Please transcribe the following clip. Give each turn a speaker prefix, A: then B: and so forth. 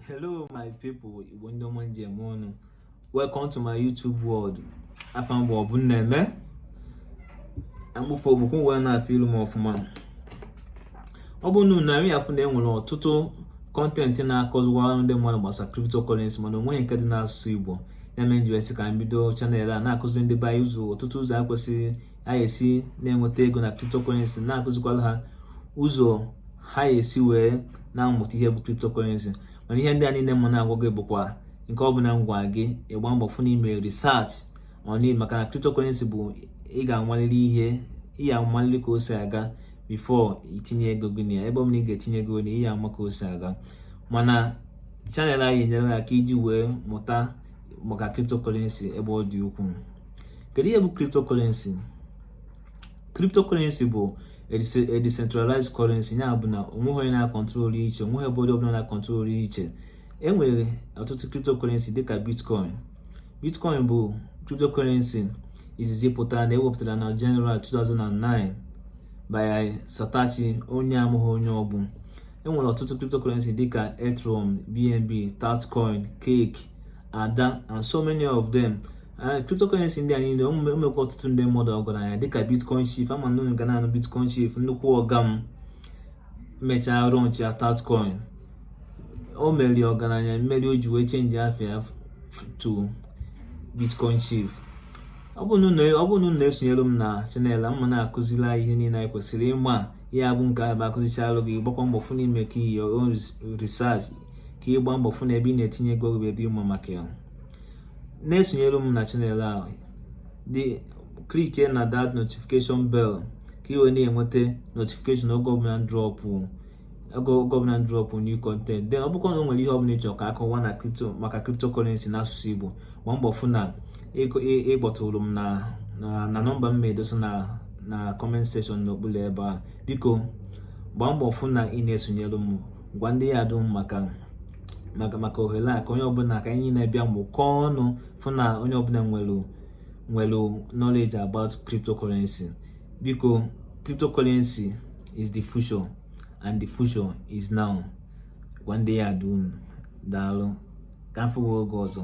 A: hello my people igbo ndị ọma m ji eme ọnụ welcome to my youtube world afa m bụ ọbụmneme amụfụ ogbukwu wee na-afụ ilu m ọfụma ọ bụ na narị afụ na enwere ọtụtụ content na-akọziwara ndị mmadụ gbasara cryptocurrency mana o nweghị nke dị n'asụsụ igbo ya mere m ji wee sị ka m bido channel a na-akụzi ndị be anyị ụzọ ọtụtụ ụzọ a kwesịrị ha esi na-enweta ego na cryptocurrency na-akụzikwala ha ụzọ ha esi wee na-amụta ihe bụ cryptocurrency mana ihe ndị a niile mụ na-agwa gị bụkwa nke ọ bụla m gwa gị ị gbaa mbọ fụ na imere research on it maka na cryptocurrency bụ ị ga-amalili ihe ị ga-amalili ka o si aga before itinye ego gị na ya ebe ọ bụla ị ga-etinye ego na ị ya ama ka o si aga mana channel a ya-enyere aka iji wee mụta maka cryptocurrency ebe ọ dị ukwuu kedu ihe bụ cryptocurrency cryptocurrency bụ a decentralized currency ya bụ na onweghị onye na-akọntrol iche onweghị ebe onye ọbụla na-akọntrol iche e nwere ọtụtụ cryptocurrency dịka bitcoin bitcoin bụ cryptocurrency izizi pụtara na ewepụtara na January 2009 by Satoshi onye amaghị onye ọbụ enwere ọtụtụ cryptocurrency dịka Ethereum, BNB, Tatcoin, Cake, Ada and so many of them cryptocurrency ndị a niile o mekwa ọtụtụ ndị mmadụ ọgaranya dịka bitcoin chief ama m na unu ga na-anụ bitcoin chief nnukwu ọga m mechaa launchịa tatcoin o mere ya ọgaranya mere o ji wee change afa ya to bitcoin chief ọ bụrụ na unu na-esonyere m na channel m ma na-akụziri anyị ihe niile anyị kwesịrị ịma ihe abụ nke ọbụla a kụzichalụ gị gbakwa mbọ fụ na imekwa your own research ka ịgba mbọ fụ na ebe ị na-etinye ego ebe ịma maka ya na-esonyere m na channel ahụ dị klikie na that notification bell ka ị wee na-enweta notification oge ọbụla m drọpụ oge ọbụla m drọpụ new content then ọ bụkwa na o nwere ihe ọbụla ịchọ ka akọwa na kripto maka cryptocurrency n'asụsụ Igbo gba mbọ fụ na ịkpọtụrụ m na na nọmba m ma edosa na na comment section n'okpuru ebe a biko gbaa mbọ fụ na ị na-esonyere m gwa ndị ya dum maka maka maka ohere a ka onye ọbụla ka anyị na-abịa mụkọọ ọnụ fụ na onye ọbụla nwere nwere knowledge about cryptocurrency biko cryptocurrency is the future and the future is now gwa ndị ya dum daalụ ka afụ oge ọzọ